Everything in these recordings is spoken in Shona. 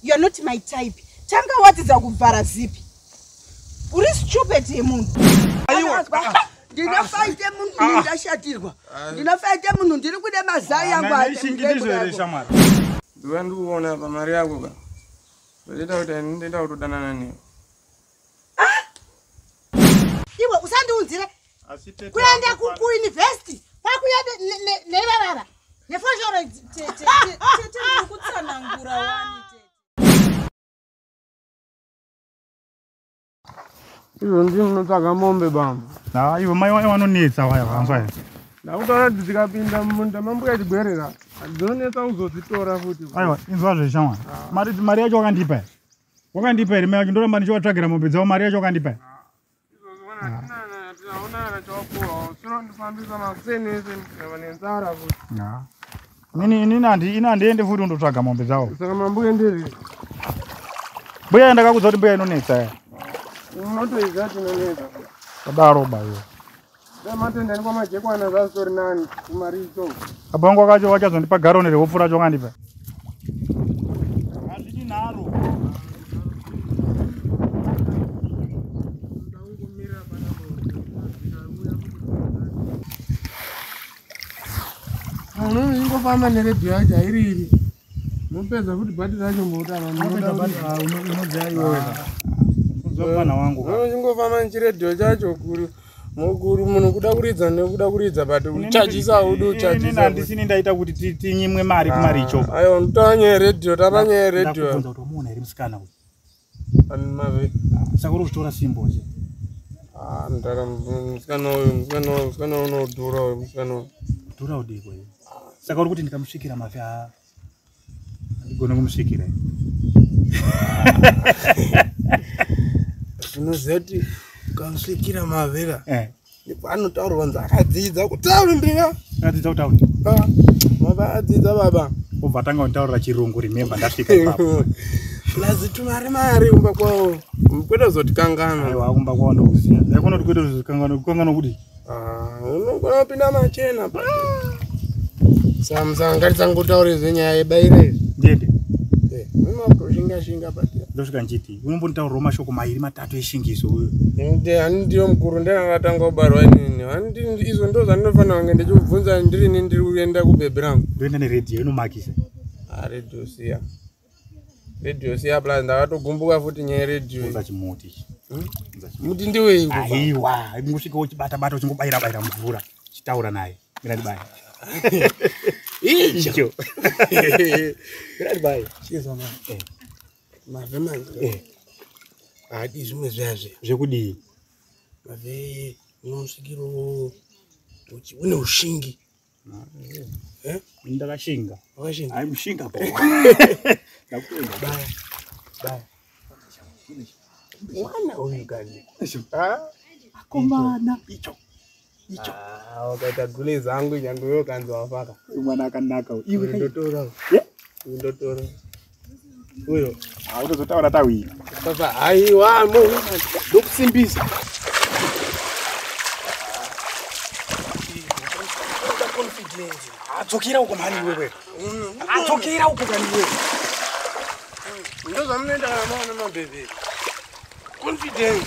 you're not my type tanga watiza kuvhara zipi uri stupid yemunhu ndinofaite munhu ndashatirwa ndinofaite munhu ndiri kude mazai yangu ndiva ndikuona pamari yako ka zvaita kuti ndinda kutodanana newe ah! iwe usandiunzire kuenda kuuniversity kwakuya nevavava nefoshoro kutsanangura wani izvo ndini ndinotsvaga mombe bambo ha ivo mai waye vanonetsa waya vanzwa ya ndakutaura kuti dzikapinda mumunda mambuya chigwerera dzonetsa kuzodzitora futi aiwa inzwa zveshamwa mari yacho wakandipa ya wakandipa here mai vacho ndoramba ndichivatsvagira mombe dzavo mari yacho wakandipa here ini handiende futi undotsvaga mombe dzavo mbuya ndakakudza kuti mbuya inonetsa ya unotoiza tinonetsa kudaro bayo Matendeni kwamajekwana zvazitori nani kumaricho. Abongo kacho wachazondipa garoni rehupfu racho kandipa. Hazvidi nharo. Munhu ingofamba neredhiyo yacho hairiri. Mopedza kuti bhati racho moda unodzaiweweaana wangu anochingofamba nechiredhiyo chacho kuri mukuru munhu kuda kuridza nekuda kuridza but uchajisa audi uchajisandisini ndaita kuti tinyimwe mari kumaricho ah, aiwa mutanyaya redio tapanyaya redio Anmave. Saka uri kutora simbo che. Ah, mtara msikana uyu, msikana uyu, msikana uyu unodhura uyu, msikana uyu. Dhura udii kwa hiyo? Saka uri kuti ndikamusvikira mafi haa. Ndigona kumusvikira. Zvinoziva kuti ukamusvikira mavera. Eh. anotaurwa nzi akadzidza kutaundira akadzidza kutaura ah, baba adzidza baba obva atanga kutaurira chirungu remembe ndasvika plazi tumari mari kumba kwavo kwete kuzotikangana aiwa kumba kwavo ndokuziva aikona kuti kwete kuzokangana kukangana kuti ah, unogona kupinda machena samsanga ngatisangotaure zvenyaya yebaira izvi ndiende eh, unokushingashinga pati ndosvika nchiti unombonitaurawo mashoko mairi matatu eshingiso uyo ani ndiyo mukuru ndanakatanga kubarwa inini izvo ndo zvandinofanira kunge ndichikubvunza ndirini ndiri kuenda kubhebhi rangu ndoenda neredhiyo inomakisa ah, redhiyo siya redhiyo siya plus ndakatogumbuka futi nyaya yeredhiyo chimuti hmm? muti ndiweaiwa ingosvika uchibata bata uchingobayira bayira mvura chitaura naye mirandibaye icho mirandibaye mave manje eh. haadi zvimwe zviyazve zvekudii mave unosvikiro kuti une ushingi eh? ndakashinga wakashinga ai mushinga po ndakuenda baya baya mwana uyu kani akomana icho icho ah, wakaita gule zangu nyange uyo kanzi wafaka uyu mwana akanaka iwe ndotora uyu ndotora uyo autozotaura ah, tawina papa haiwa mo ndokusimbisa adzokera uko mhani iwewe adzokera uko mhani iwewe ndozvamunoenda namaona mabhebhe confidence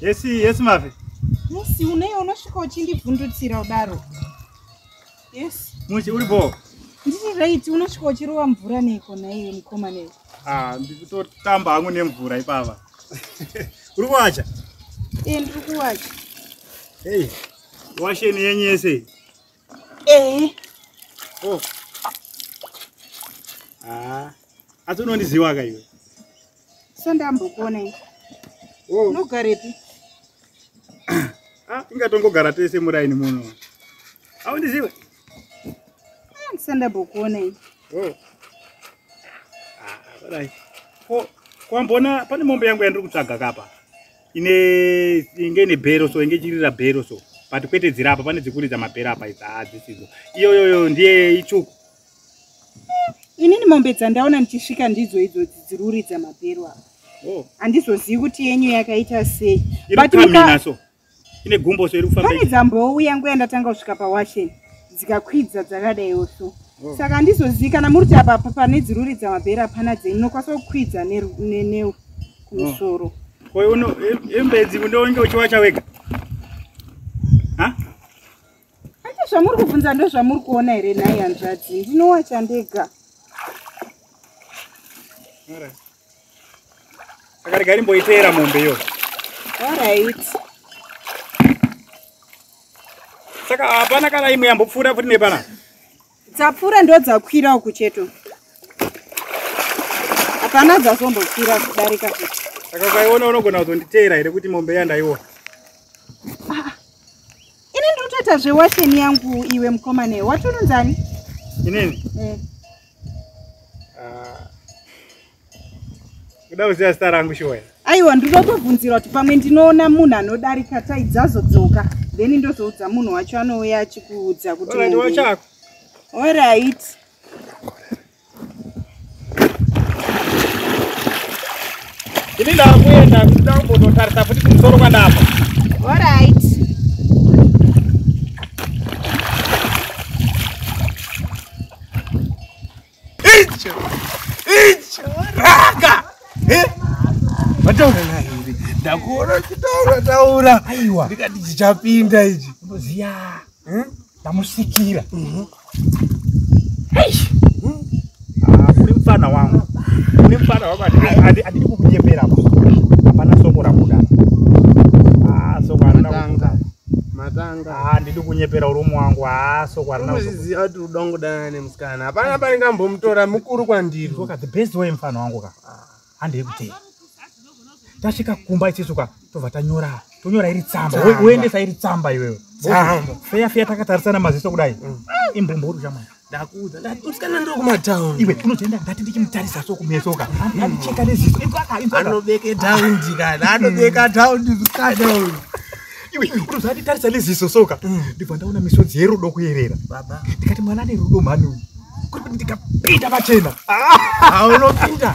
yesi yesi mafe musi uneyi unosvika uchindibvundutsira udaro Yes. Muchi uri bho. Ndiri right unosvika uchirova mvura neiko naiyo mukoma nei. Ah, ndikutotamba hangu nemvura ipava. Uri kuwacha? Eh, ndiri kuwacha. Hey. Washeni yenyu yese. Eh. Oh. Ah. Asi unondiziwa ka iwe? sandambokuonai oh. unogarepi ah, ingatongogara tese muraini muno aundizive ah, sandambokuonai oh. ah, kwambona pane mombe yangu yandiri kutsvaga kapa ine inge ine bhero so inge ichirira bhero so but kwete dziri apa pane dzikuridza mabhero apa idzi hadzisidzo iyoyoyo ndiye itsvuku inini mombe dzandaona ndichisvika ndidzo idzo dziruridza mabhero aa oh. handizozivi kuti yenyu yakaita sei pane dzambouya nguva yandatanga kusvika pawashen dzikakwidza dzakadaiwo so oh. saka handizozivi kana muri kuti apapa pane dziruridza mabhero apana dzenyu nokwanisa kukwidza neneu kumusoro oh. imbedzi kundoonge uchiwacha wega Ande zvamuri kubvunza ndozvamuri kuona here nhai hanzvadzi ndinowacha ndega. Alright. Saka regai ndimboiteera mombe iyo. Alright. Saka hapana kana imwe yambopfuura futi nepana. dzapfuura ndo dzakwira uku cheto hapana dzazombokwira kudarika kuti saka ukaiona unogona kuzonditeera here kuti mombe yandaiona ah, ini ndiri kutoita zvewasheni yangu iwe mukomane wati unonzani inini mm. uh, kuda kuziva zita rangu shoya aiwa ndinotobvunzira kuti pamwe ndinoona munhu anodarika tai dzazodzoka then ndozoudza munhu wacho anouya achikuudza kuti wachako orit ini ndakuenda kuda kumbonotarisa futi kumusoro kwandapa orit Icho. Icho. Raka. Eh? Wataura naye uri. Ndakuona uchitaura taura. Aiwa. Ndikati chichapinda ichi. Ndoziya. Hmm? Ndamusikira. Mhm. Mm Eish. Hmm? Ah, kuri mfana wangu. Kuri mfana wangu adi adi kukunyepera apa. Hapana soko rabuda. Ah, soko anoda kutanga. Matanga. Ah, ndidi kunyepera urumu wangu. Ah, soko arina. Uzizi ati udongo dana nemsa. kana hapana pane kambomutora mukuru kwandiri ka the best way mfana wangu ka handi yekutei tasvika kumba ichecho ka tobva tanyora tonyora iri tsamba woendesa iri tsamba iwewe feya feya takatarisana maziso kudai mm. imbumbo uri chamai ndakuudza ndatusikana ndiri kumatown iwe unotoenda ndati ndichimutarisa so kumeso ka mm. andicheka neziso anobeke taundi kana anobeka taundi msikana uyu iwe unozanditarisa neziso soka mm. ndibva ndaona misodzi yerudo kuyerera ndikati mwana ane rudo mhani uyu kuri kuti ndikapinda pachena aunopinda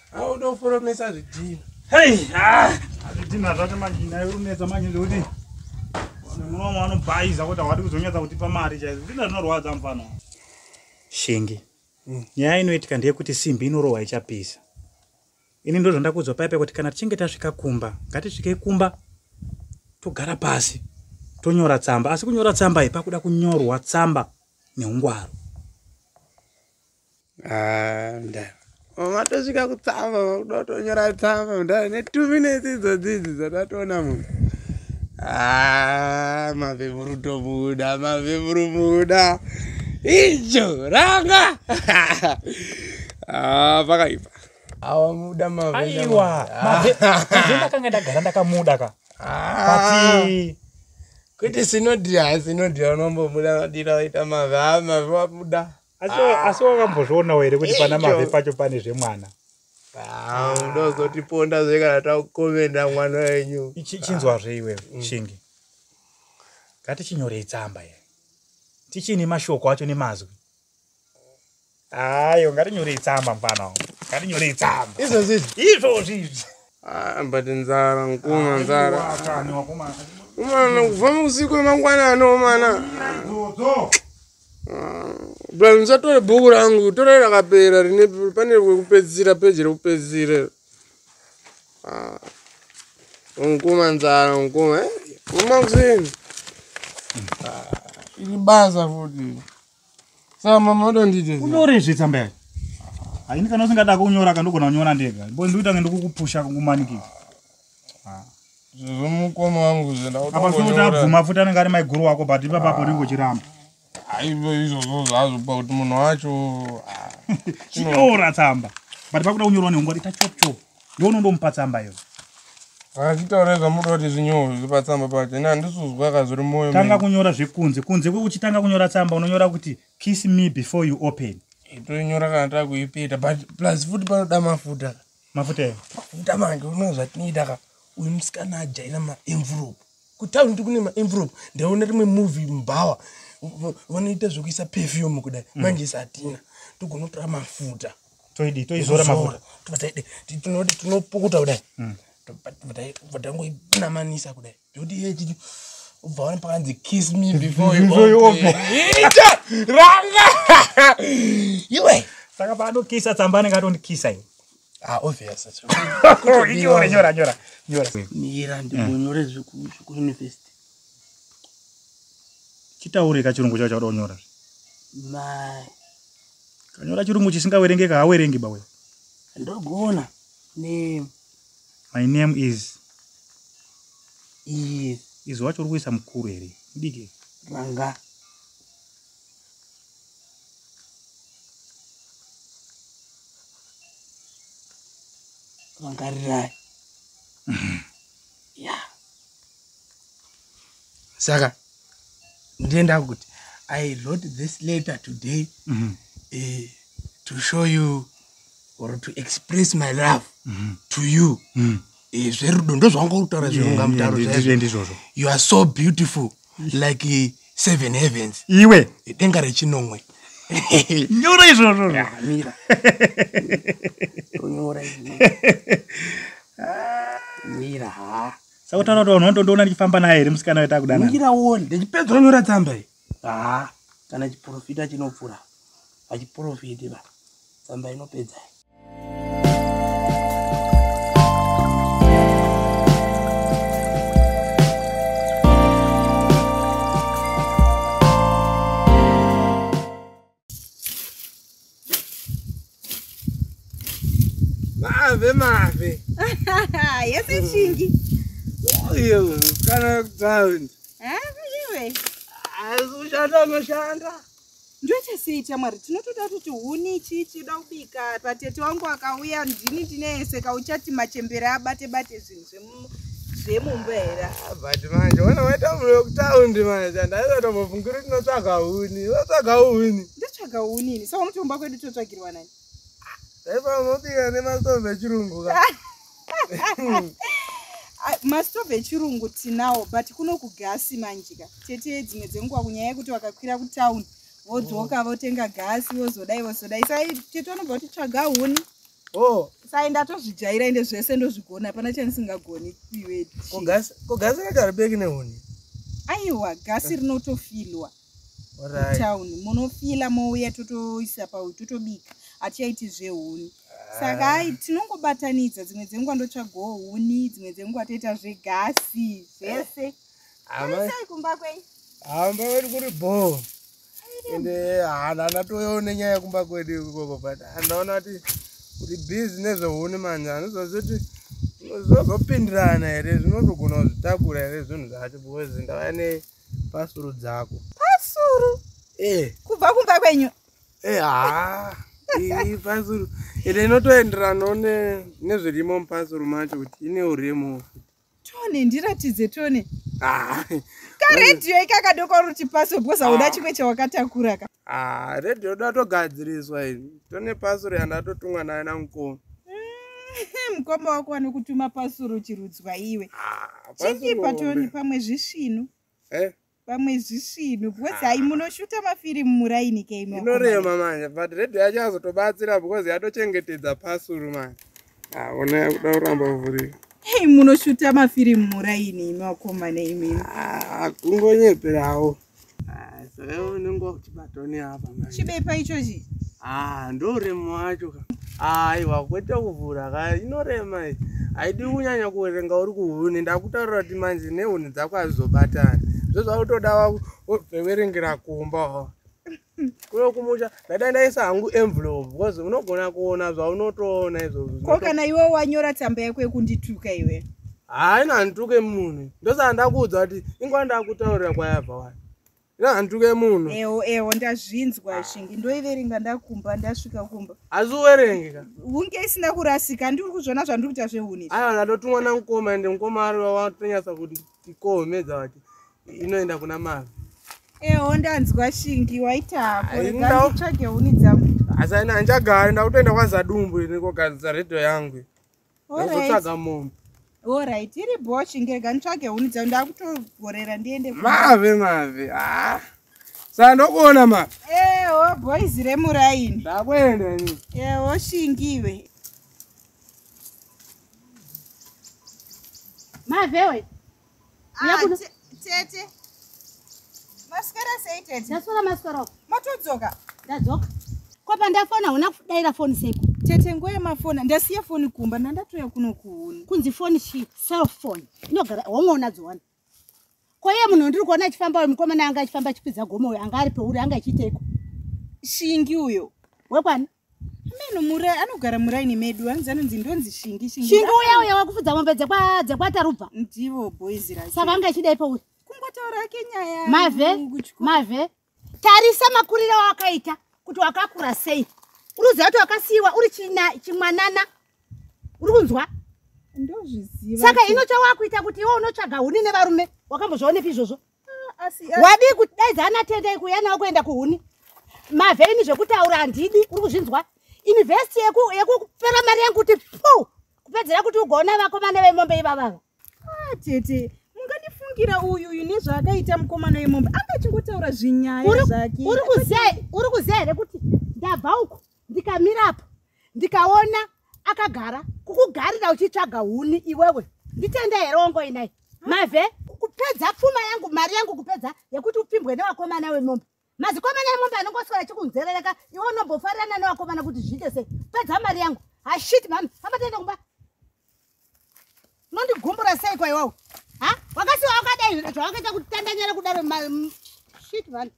auda kuforomesa zvidhina hei ah, azvidhina zvacho manje naye urunetsa manje ndikuti muno wamwe anobhaiza kuti hawadi kuzonyatsa kutipa mari chaizo zvidhina zvinorwadza mufana shingi hmm. nyaya inoitika ndeyekuti simbi inorohwa ichapisa ini ndo zvandakuudzwa paipa kuti kana tichinge tasvika kumba ngatisvikei kumba togara pasi tonyora tsamba asi kunyora tsamba ipakuda kunyorwa tsamba neungwaro Ah, mdara matosvika kutsamba vakuda kutonyora tsamba mdara netwo minutes idzo dzidzi dzatatoona munhu ah, mavhevuru tomuda mavhevuru muda ijo ranga ah, pakaipa awamuda mavaiwa mavhevakanga ndagara ndakamuda ka ati kuti sinodira sinodira unombomuda madira waita mavhama vamuda asi wakambozvionawo here kuti pana mave pacho pane zvemwana ndozotiponda zve kana takukomenda mwana wenyu chinzwazve iwe mm. shingi ngatichinyorei tsamba ye tichine mashoko acho nemazwi ayo ngatinyorei tsamba mfana ngatinyorei tsamba izvozvi izvozvi izvi ah, but nzara nkuma nzara umana kubva mukusiku emangwanani umana Bra musatore bhuku rangu, torai rakapera rine pane rekupedzisira peji rekupedzisira iro. Ah. Unkuma nzara unkuma eh? Kuma kuseni. Ah, iri basa futi. Saka mama wadondite. Unyore zve tsamba yacho. Haini kana usingada kunyora kandogona kunyora ndega. Bo ndikuita ngende kukupusha kukumanikisa. zvezvomukoma wangu zvendaabvuma futi anenge ari maiguru wako but ipapapo unenge uchiramba aivo izvozvo zvazvo pakuti munhu wacho chinyora tsamba but pakuda kunyorwa nehungwari ita chop chop ndonondomupa tsamba iyo achitaura zvamuda kuti zvinyoro zvipa tsamba pacho ini handisuzwa ka zviri moyo tanga kunyora zvekunze kunze kwekuchitanga kunyora tsamba unonyora kuti kiss me before you open toinyora kana takuipeta but plus futi panoda mafuta mafuta eyo mafuta manje uno zvatinoita ka uyu musikana ajaira maenvelope kutauri kuti kune maenvelope ndaona rimwe movie mubhawa vanoita zvekuisa perfume kudai mm. manje isi hatina togonotora mafuta toidi toizora mafuta tinoti tinopukuta kudai mm. vatangoinamanisa kudai Doti iye chiti ubva wani pakanzi kiss me before you Before you open. Ita! Ranga! Iwe! saka paanokisa tsamba anenge atondikisa ini Ah, obvious. acho. nyora nyora nyora nyora mira ndibonyore zvekuuniversity chitaure ka chirungu chacho chauda kunyora mai kanyora chirungu chisingawerengeka hawerengi bawe ndogona ne My name is Iye Izi wacho uri kuisa mukuru here? Mudiki Ranga Rangarirai Ya Saka Ndienda kuti I wrote this letter today mm -hmm. uh, to show you or to express my love mm -hmm. to you mm. e, zverudo ndozvangokutaura zvirunga mutaro ndizvozvo you are so beautiful like uh, seven heavens iwe denga rechinomwe nyora izvozvo mira tonyora mira ha sakutaura kuti vanhu vandodoona ndichifamba naye here musikana wetakudanamira wone ndichipedza onyora tsamba iyi haa kana chiprofita chinopfura hachiprofiti va tsamba inopedzai mave mave yese chingi oyo kana ground iwe azoshanda unoshanda ndochasiita mwari tinotoda kuti huni chii chida kubika patete wangu akauya ndini ndineyeseka uchati machembere abate bate zvinhu zvemu zvemumba here ah, but manje wana waita mune wekutaundi manje andaizatombofungiri kuti unotsvaga huni unotsvaga huni ndotsvaga huni ini saka unotomba kwedu totsvagirwa nani daipa unobika nemastove echirungu ka ah, mastove echirungu tinawo but kuno kugasi manje ka tete dzimwe dzenguva kunyaya yekuti vakakwira kutaundi vodzoka votenga gasi vozodai vozodai sai tete vanobva kuti tsvaga huni Oh. Sai ndatozvijaira ende zvese ndozvigona hapana chandisingagoni iwe. Ko gas ko gas rakarbeki nehuni. Aiwa gas rinotofilwa. Right. Town munofila mouya totoisa pauyu totobika hatichaiti zvehuni saka ah. hai tinongobatanidza dzimwe dzenguva ndotsvagawo huni dzimwe dzenguva toita zvegasi zvese aisai kumba kwenyu hamba vari kuri bhoo ende hana natoyo nenyaya yekumba kwedu ikoko but andaona kuti kuti busy nezvehuni manje anozozoti zozopindirana here zvinotogona kuzvitakura here zvinhu zvacho because ndava ne pasuru dzako pasuru e eh. kubva kumba kwenyu e eh, haa ii pasuru ende inotoenderanawo nezvirimo mupasuru macho kuti ine uremu futi tone ndiratidze tone ah. karedhiyo ikakadoko ruti paso because auda ah. chimwe chawakatakura ka ah, redhiyo uda togadziriswa izvi tone pasuro yandatotumwa naye namukoma mm, mukoma wako wanokutuma pasuro chirudzwa iwe chingipa tone pamwe zvisvinu eh? pamwe zvisvinu because hai munoshuta mafirimu muraini keimo inorema manje but radio yacho azotobatsira because yatochengetedza pasuru manje aona ah, yakuda kuramba kuvhurika hei munoshuta mafirimu muraini imi wakomana imimi ah, kungonyeperawo ah, saka unenge wakuchibata tone apa manje. Chibepa ichochi. Ah, ndorema wacho ka. Aiwa kwete kuvhura ka inorema iyi. Haidi kunyanya kuverenga uri kuhuni ndakutaurira kuti manje nehuni dzako hazizobatani. Zvozvakutoda kuverengera kumba. kuno kumusha ndada ndaisa hangu envelope because unogona kuona zvaunotoona izvozvo ko kana iwe wanyora tsamba yako yekundituka iwe haina ndituke munhu ndosaka ndakuudza kuti ingwa ndakutaurira kwayabva wani handuke munhu ewo ewo ndazvinzwa ah. shingi ndoiverenga ndakumba ndasvika kumba asi uverenge ka hunge isina kurasika ndiri kuzvona zvandiri kuita zvehuni aiwa ndatotumwa namukoma ende mukoma ari watonyatsa kuti tikohomedza vati inoenda kuna mavi ewo ndanzwa shingi waitakotsvage huni dzangu asi aina handichagari ndakutoenda kwazadumbu ini kogadzisa redhiyo yangu Ndozotsvaga mombe. Alright, iri boshi ngega nitsvage huni dzangu ndakutogorera ndiende. Mave mave. Ah. Saka ndokuona ma. Eh, wo oh, boys remuraini. Ndakuenda ini. Eh, wo oh, shingiwe. Mave wait. Ah, tete maswera sei tete ndaswera maswera matodzoka ndadzoka ko pandafona huna kudaira foni seko tete ngoye mafona ndasiya foni kumba ndandatouya kuno kuhuni kunzi foni chi cellphone inogara homwe unadziwana ko iye munhu ndiri kuona achifamba uyo mukomana anga achifamba achikwidza gomo uyo anga ari peuri anga achiiteko shingi uyo wekwani Meno murai anogara muraini medu anzi anonzi ndonzi shingi shingi. Shingi uya uya wakufudza mombe dzekwa dzekwa tarubva. Ndivo boys ra. Saka anga chidai pa uya. Kungotaura yake nyaya. Mave. Mave. Tarisa makurira wakaita kuti wakakura sei. Uruziva kuti wakasiwa uri china chimwanana. Uri kunzwa? Ndozviziva. Saka ino chawakuita kuti iwe unotsvaga huni nevarume. Wakambozvionepi izvozvo? wadii kuti dai zanatendei kuuya nawo kuenda kuhuni mavheini zvekutaura handidi uri kuzvinzwa invhesti yekupera mari yangu kuti pu kupedzera kuti ugoona vakomana vemombe ivavava ah, tete mungandifungira uyu uyu nezvaakaita mukomana wemombe anga achingotaura zvinyaya zvake uri kuziva here kuti ndabva uku ndikamirapo ndikaona akagara kukugarira uchitsvaga huni iwewe nditende here wongoinai mave kupedza pfuma yangu mari yangu kupedza yekuti upfimbwe newakomana wemombe mazikomana emombe anongoswera chikunzerereka iwe unombofarirana newakomana kuti zviite sei pedza mari yangu hashit mhami amatende kumba unondigumbura sei kwa iwawo ha wakasiwa wakadai zvawakaita kutandanyara kudaro shit mhani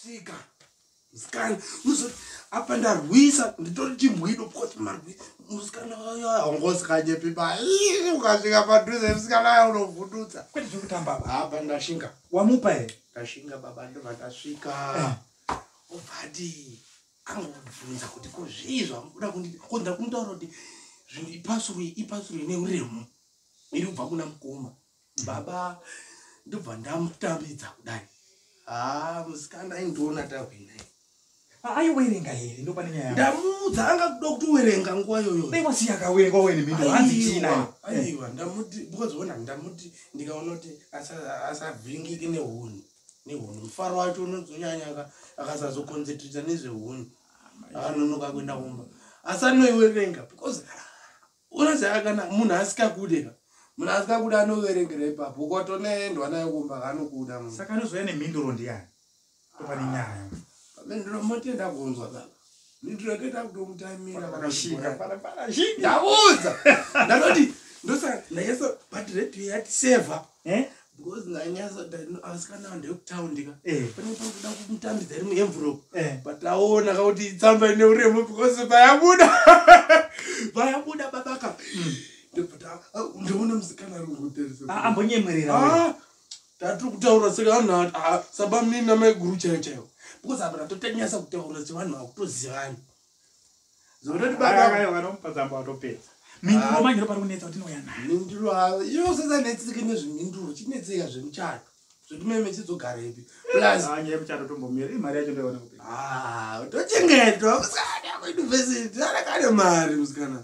svika musikana uzoti apa ndarwisa nditori chimbwido because marwisa musikana wayo aungozikanyepi pa ukasvika padhuze musikana wayo unovhundutsa kwete zviri kutamba apa ndashinga wamupa here ndashinga baba ndovandasvika eh. ovadii angobvunza kuti ko zvii zvamuda kunditi ko ndira kumutaura kuti zvinhu ipasuru ipasuru ine uremu iri kubva kuna mukoma baba ndobva ndamutambidza kudai haa ah, musikana aindiona tahwina aiwerenga here ndopane nyaya ndamuudza anga kuda kuti uwerenga nguva yoyo daiwasi yakawerenga wene mhindo hanzi chiinayo aiwa ndamuti because wona ndamuti ndikaona kuti asavhiringike nehuni nehunhu mufaro wacho unozonyanyaka akasazokonzentrita nezvehunhu akanonoka kuenda kumba asi anoiwerenga because unoziva kana munhu asikakude ka munhu asikakuda anoverengera ipapo ukatonoendwa nayo kumba kanokuda saka anozouya nemhinduro ndiyani topane nyaya pamhinduro motenda kunzwa baba ndinotoita kutomutaimira vakashinga ndabuza ndanoti ndosaka ndanyasa but radio yati saver eh? because ndanyasa asikana vanhu vekutawundika eh. panenge pakuda kumutambidza iri muenvelope eh. but aona kakuti itsamba ine uremu because vayabuda vayabuda babaka hmm. ndoona musikana ari kungoteresaambonyemwerera ah, ah, tatiri kutaura sevanhu ah, sabamnini namaiguru chaiyo chaiwo because apa tatotanyasa kutaura sevanhu vakutozivana zototi babaanomupa zamba watopedza minduro ah. manyiro pari kunetsa kuti inouya nayo minduro ah, iyo sasanetseke nezveminduro chinetseka zvemuchato zvetimeme chidzogarepi plus anye muchato tombomira imari yacho ndoona kupi ah tochengetwa musikana kuuniversity anakane mari musikana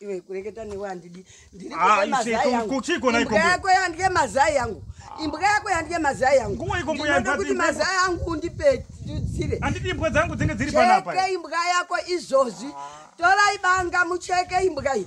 iwe kureketa newe handidi ndiriimbwa yako yandye mazai yangu imbwa yako yandye mazai yanguinoda kuti mazai angu undipedzire imbwa dzangu dzinge dziri panapa imbwa yako izvozvi torai banga mucheke imbwa iyi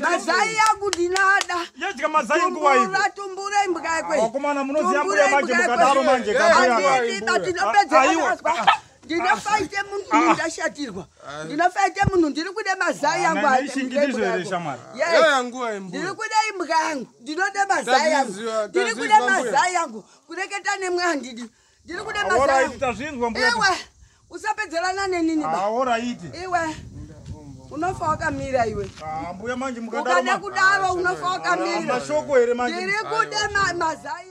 mazai yangu ndinada yadya mazai nguva ivo tumbura imbwa yako vakomana munoziva mbuya manje mukadaro manje kamuyaaiba tinopedza vakazwa ndinofaite munhu ah. ndashatirwa ah. ndinofaite munhu ndiri kude mazai yangu ah, ndiri kude imbwa yangu ndinode mazai yangu ndiri kude mazai yangu kureketa nemwe handidi Ndiri kuda mazai. Alright, tazvinzwa mbuya. Iwe usapedzelana nenini ba. Alright. Iwe unofa wakamira iwe ah, mbuya manje mukadakada kudaro ah, unofa wakamira ah, mashoko here manje ndiri kuda mazai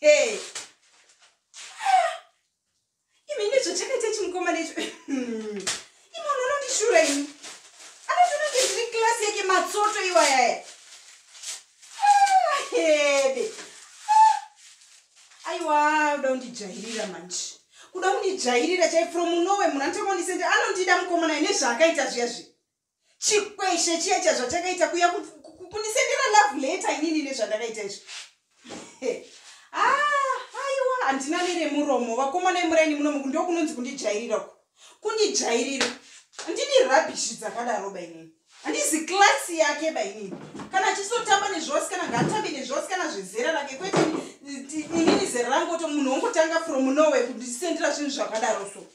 hey. imi ine zvachakaita chimukomana icho imi unhu unondishura imi anotononge ndiri klasi yake matsoto iwayaya hebe aiwa uda undijairira manje kuda kundijairira chai from unowe munhu anotoka undisende anondida mukomana ine zvaakaita zviya zvi chikweshe chiya chazvachakaita kuya kunisendera love letter inini nezvandakaita izvo ah, aiwa handina neremuromo vakomana emuraini muno muku ndo kunonzi kundijairira uku kundijairira handidi rabishi dzakadaro bainini handizi klasi yake bainini kana achisotamba nezvose kana ngaatambe nezvose kana zvezera rake kwete inini zera rangu to munhu wongotanga from norway kundisendera zvinhu zvakadaro so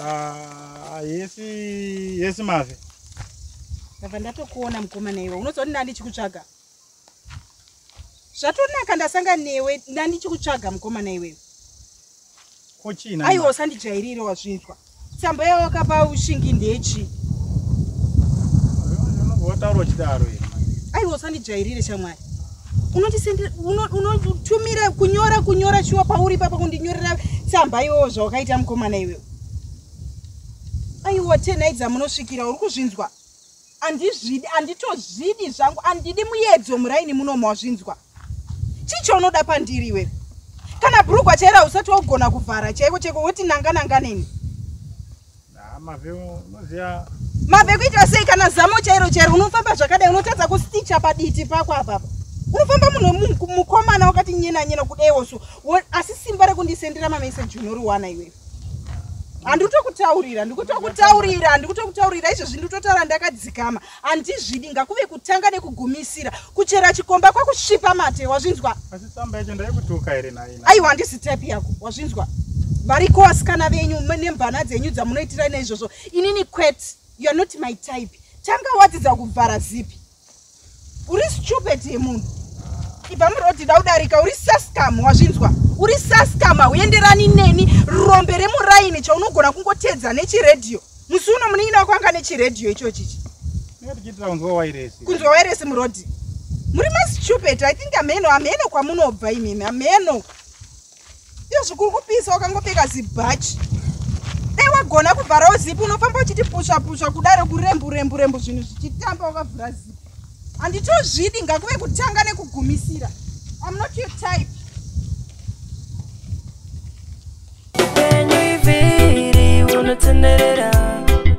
Ah, yesi yesi mave ndabva ndatokuona mukomana iwe unozoona ndichikutsvaga zvatonaka ndasanga newe ndandichikutsvaga mukomana iwewe kochina aiwa usandijairire wazvinzwa tsamba yawakapa ushingi ndechi wataura uchidaro aiwa usandijairire shamwari unotumira kunyora kunyora shuwa pauri papa kundinyorera tsamba iwowo zvawakaita mukomana iwewe aiwa tenai dzamunosvikira uri kuzvinzwa andizvidi anditozvidi zvangu andidi muyedzo muraini muno mawazvinzwa chii chaunoda pandiri iwe kana brugwa chaira usati wagona kuvhara chaiko chaiko woti nanga nanga neni mave kuita sei kana zamo chairo chairo unofamba zvakadai unotadza kusticha paditi pako apapa unofamba munhu mukomana wakati nyena nyena kudaiwo so asi simba rekundisendera mameseji unoriwana iwewe handikutokutaurira ndikutokutaurira ndikutokutaurira izvezvi nditotaura ndakadzikama handizvidi ngakuve kutanga nekugumisira kuchera chikomba kwakusvipa mate wazvinzwa aiwa handisi type yako wazvinzwa variko vasikana venyu nemvana dzenyu dzamunoitira neizvozvo inini quet youare not my type tanga wadzidza kuvhara zipi uri stupid yemunhu ibva muroti da udarika uri saskam wazvinzwa uri saskam hauenderani neni rombe remuraini chaunogona kungotedza nechiredhiyo musi uno munin'ina wako anga nechiredhiyo icho chichi kunzwa wairesi murodhi muri mastupid i think ameno ameno kwamunobva imimi ameno iyo zvikuri kupisa wakangopfeka zibhachi dai wagona kuvharawo zipi unofamba uchiti pusva pusva kudaro kurembu rembu rembu zvinhu zvichitamba wakavhura zipi handitozvidi ngakuve kutanga nekugumisira am not your type unotenderera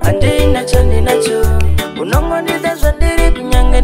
andina chandinacho unongondida zvandiri kunyange